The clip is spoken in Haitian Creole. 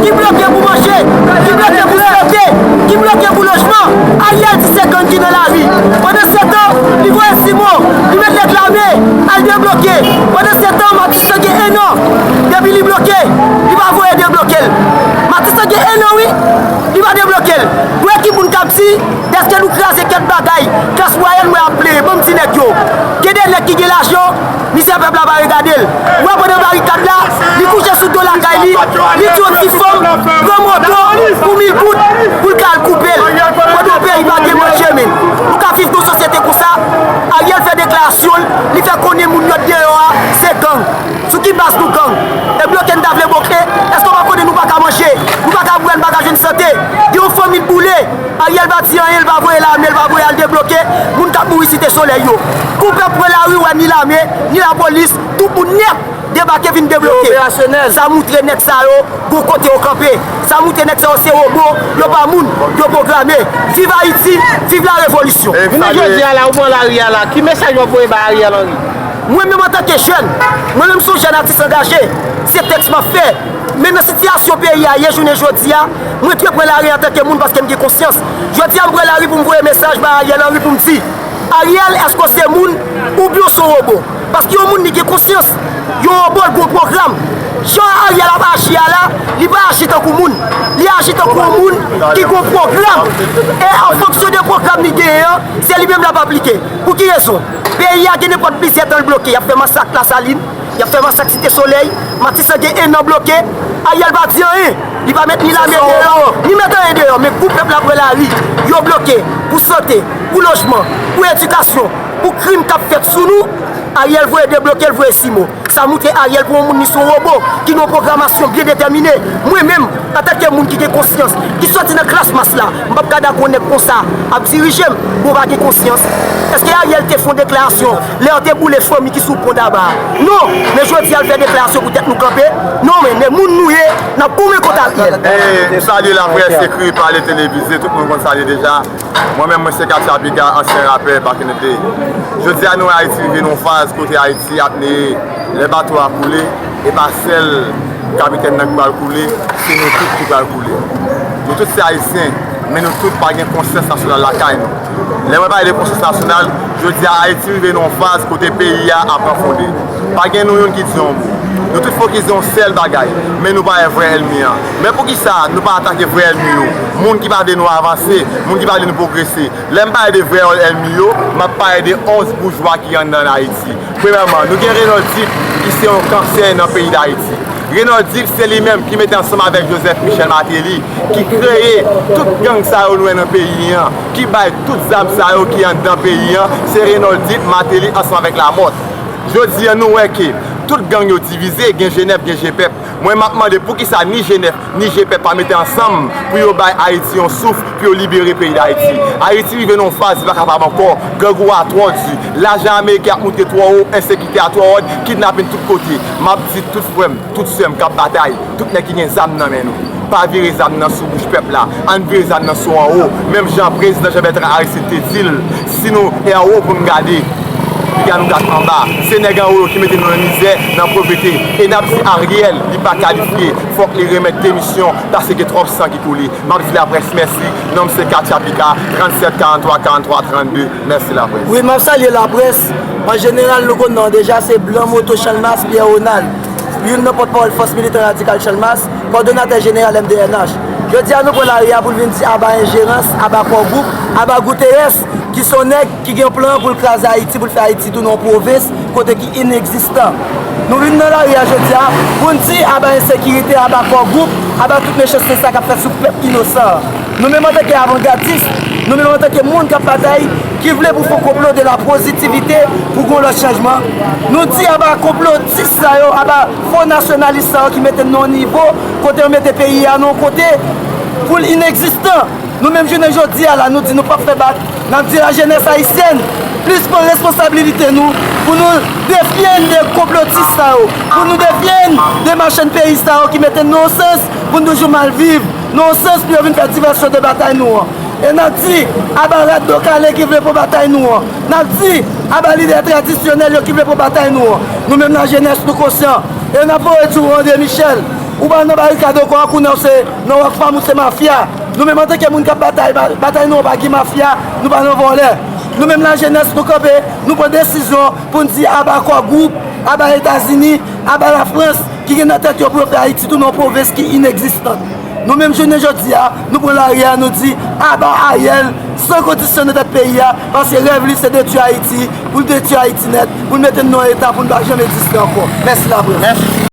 Ki bloke pou manje, ki bloke pou sante, ki bloke pou lojman, Ariel di se gang ki nan lari. Pandansetan, li voye Simon, li met nèg lame al debloke. Pandansetan, Matis lan gen 1 an depi li bloke, li pa voye debloke l. Matis lan gen 1 an wi, li pa debloke l. Bwè ki pou n kab di dèske nou kraze kèk bagay klas mwayèn mwen ap plenyen. Ban m di nèg yo, gen de nèg ki gen lajan. Mizè pèp la pa regade l. Ou wè pandan barikad la, li kouche sou do lakay li, li di yon ti fanm pran moto pou mil goud pou l ka al koupe l. Pandan peyi pa gen manje men nou ka viv nan yon sosyete konsa? Ariel fè deklarasyon l, li fè konnen moun yo t deyò a se gang. Sou ki baz nou gang? E bloke n ta vle boke, èske w pa konnen nou pa ka manje, nou pa ka bwè, n pa ka jwenn sante? Gen yon fanmi k boule. Ariel pa di anyen li pa voye lame li pa voye al debloke moun kap mouri site solèy yo kou pèp pran lari wè ni lame ni la polis tout moun nèt debake vin debloke sa moutre nèg sa yo gon kote yo kanpe sa moutre nèg sa yo se robo yo pa moun yo programe viv ayiti viv la revolisyon. Jounen jodi a la ou pran lari a la ki mesaj wap voye bay Ariel Henry? Mwen menm antanke jèn, mwen menm son jèn atis angaje, se tèks map fè. Men nan sitiyasyon peyi a ye jounen jodi a, mwen dwe pran lari antanke moun paske m gen konsyans. Jodi a m pran lari pou m voye mesaj bay Ariel Henry pou m di, Ariel èske w se moun oubyen w son wobo? Paske yon moun li gen konsyans, yon wobo l gon pwogram. Jan Ariel ap aji a la, li pa aji tankou moun. Li aji tankou yon moun ki gon pwogram. E an fonksyon de pwogram li genyen an, se li menm l ap aplike. Pou ki rezon? Peyi a gen nenpòt plizyè tan l bloke, y ap fè masak Lasalin, Yap fè masak site solèy, matisan gen 1 an bloke, Ariel pa di anyen, li pa met ni lame deyò, ni met anyen deyò men kou pèp la pran lari, yo bloke, pou sante, pou lojman, pou edikasyon, pou krim kap fèt sou nou, Ariel voye debloke l voye simo, sa moutre Ariel pou yon moun li son robo, ki gen yon pwogramasyon byen detèmine, mwen menm antanke moun ki gen konsyans, ki sòti nan klas mas la, m pap ka dakò nèg konsa ap dirije m, bon pa gen konsyans, eske Ariel te fon deklarasyon Lè yo te boule fomi ki sou pon taba a. Non, men jodi a l fè deklarasyon pou tèt nou kanpe, non men, men moun nou ye, n ap goumen kont Ariel. M salye laprès ekri, pale, televize, tout moun konn sa ye deja. Mwen menm mwen se Katia Piga, ansyen rapè, back in the day. Jodi a nou wè Ayiti rive nan yon faz kote Ayiti ap neye, lè bato a koule, e pa sèl kapitèn nan ki pral koule, se nou tout ki pral koule. Nou tout se Ayisyen, men nou tout pa gen konsyans nasyonal lakay nou. Lè mwen pale de konsyans nasyonal, jodi a Ayiti rive nan yon faz kote peyi a ap ranfonde. Pa gen nou youn ki di yon mo. Nou tout fokize yon sèl bagay, men nou pa wè vrè èlmi an. Men poukisa nou pa atake vrè èlmi yo, moun ki pa vle nou avanse, moun ki pa vle nou pwogrese. Lè m pale de vrè èlmi yo, m ap pale de 11 boujwa ki anndan Ayiti. Premyèman, nou gen Renan Duc ki se yon kansè nan peyi Dayiti. Renan Duc se li menm ki mete ansanm avèk Joseph Michel Martelly ki kreye tout gang sa yo nou wè nan peyi an, ki bay tout zam sa yo ki anndan peyi an, se Renan Duc, Martelly ansanm avèk Lamothe. Jodi an nou wè ke tout gang yo divize, gen Jenèb, gen Jepèp. Mwen map mande poukisa ni Jenèf ni Jepep pa mete ansanm pou yo bay Haiti yon souf pou yo libere peyi d'Haiti. Haiti rive nan yon faz li pa kapab ankò, grangou a twò di, lajan ameriken ap moute twò wo, ensekite a twò ròd, kidnapin tout kote. Map di tout frèm, tout sèm kap batay, tout nèg ki gen zam nan men nou, pa vire zam nan sou bouch pèp la, ann vire zam nan sou anwo, menm jan prezidan Jean Bertrand Aristide te dil. Si nou e anwo pou n gade, piga nou gad anba. Se nèg anwo yo ki mete nou nan mizè, nan povrete. E n ap di Ariel li pa kalifye, fòk li remèt demisyon pase gen twòp san ki koule. M ap di laprès mèsi. Non m se Katia Pika, 37 43 43 32. Mèsi laprès. Wi, m ap salye laprès. An jeneral nou konn non an deja, se Blan Moto Chanmas Pierre Ronald, youn nan pòtpawòl Fòs Militan Radikal Chanmas. kòdonatè jeneral MDNH. Jodi a nou pran lari a pou n vin di aba enjerans, aba Kò Gwoup, aba Gouteyès ki son nèg ki gen yon plan pou l kraze Ayiti, pou l fè Ayiti tounen yon pwovens kote ki inegzistan. Nou vin nan lari a jodi a pou n di aba ensekirite, aba Kò Gwoup, aba tout mechanste sa k ap fèt sou pèp inosan an. Nou menm antanke avangadis, nou menm antanke moun k ap batay, ki vle pou fon konplo de la pozitivite pou gen yon lòt chanjman, nou di aba konplotis sa yo, aba. Fo nasyonalis sa yo ki mete n nan yon nivo kote yo mete peyi a nan yon kote pou l inekzistan. Nou menm jounen jodi a la nou di nou pap fè bak, n ap di lajenès ayisyèn plis pran responsablilite nou pou nou defye n de konplotis sa yo, pou nou defye n de machann peyi sa yo ki mete n nan yon sans pou n toujou mal viv, nan yon sans pou yo vin fè divèsyon de batay nou an. E n ap di aba rad do kale ki vle pran batay nou an. N ap di, Aba lidè tradisyonèl yo ki vle pran batay nou an. Nou menm lajenès, nou konsyan. E n ap voye di ou, André Michel, ou pa nan barikad ankò ak ou nan ou se nan Rockfam ou se mafya. Nou menm antanke moun k ap batay, batay nou an pa gen mafya, nou pa nan vòlè. Nou menm lajenès, nou kanpe, nou pran desizyon pou n di aba Core Group, aba Etazini, aba Lafrans ki gen nan tèt yo pou yo fè Ayiti tounen yon pwovens ki inekzistan. Nou menm jounen jodi a, nou pran lari a, nou di, aba Ariel, san kondisyon nan tèt peyi a, paske rèv li se detwi Ayiti, pou l detwi Ayiti nèt, pou l mete n nan yon eta pou n pa janm egziste ankò. Mèsi laprès.